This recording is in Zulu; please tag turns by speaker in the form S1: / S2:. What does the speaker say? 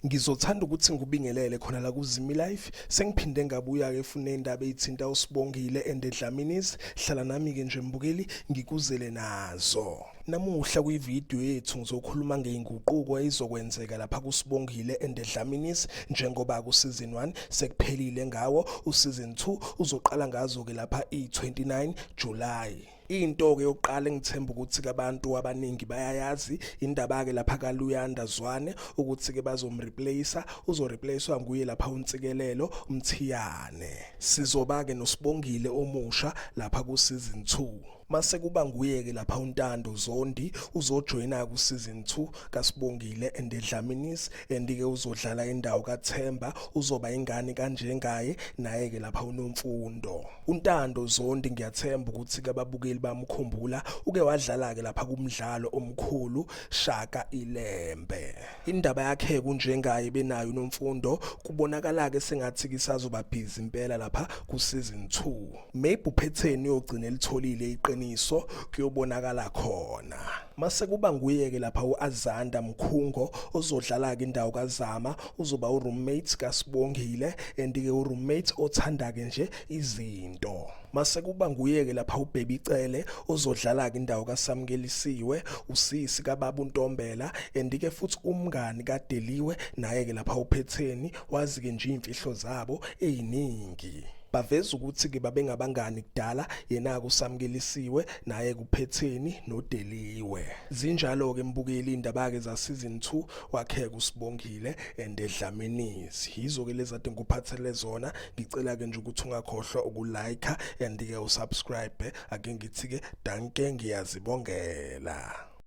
S1: ngizothanda ukuthi ngikubingelele khona la kuzimi life sengiphinde ngabuya ke fune indaba ezithinta usibongile and edlamini's hlala nami ke nje mbukeli ngikuzele nazo namuhla kwivideo yethu ngizokhuluma ngeinguquko ezizokwenzeka lapha kusibongile and edlamini's njengoba ku season 1 sekuphelile ngawo u season 2 uzoqala ngazo ke lapha i29 July into ke yokuqala engithemba ukuthi abantu abaningi bayayazi indaba ke lapha kaLuyanda Zwane ukuthi ke bazomreplacer uzoreplacewa nguye lapha uNtsikelelo Mthiyane sizoba ke nosibongile omusha lapha ku season 2 mase kuba nguye ke lapha uNtando Zondi uzojoyina ku season 2 kaSibongile and eDlaminis Andike uzodlala indawo kaThemba uzoba ingane kanjengaye naye ke lapha unomfundo. UNtando Zondi ngiyathemba ukuthi kababukeli bamkhumbula uke wadlala ke lapha kumdlalo omkhulu Shaka Ilembe. Indaba yakhe kunjengaye benayo unomfundo kubonakala ke sengathi kisazoba busy impela lapha ku season 2. maybe uphetheni uyogcina elitholile iqiniso kuyobonakala khona mase kuba nguyeke lapha uAzanda Mkhungo ozodlala ke indawo kaZama uzoba uroommate kaSibongile and ke uroommate othanda ke nje izinto mase kuba nguyeke lapha uBaby Cele ozodlala ke indawo kaSamkelisiwe usisi kababa uNtombela and ke futhi umngani kaDeliwe naye ke lapha uphetheni wazi ke nje imfihlo zabo eziningi Baveza ukuthi-ke babengabangani kudala, yena-ke usamukelisiwe, naye kuphetheni nodeliwe. Zinjalo-ke mbukeli iy'ndaba-ke zasizini two, wakheka uSibongile and Dlamini's. Yizo-ke lezi ade ngikuphathele zona, ngicela-ke nje ukuthi ungakhohlwa ukulayikha and-ke usubscribe. Ake ngithi-ke danke ngiyazibongela.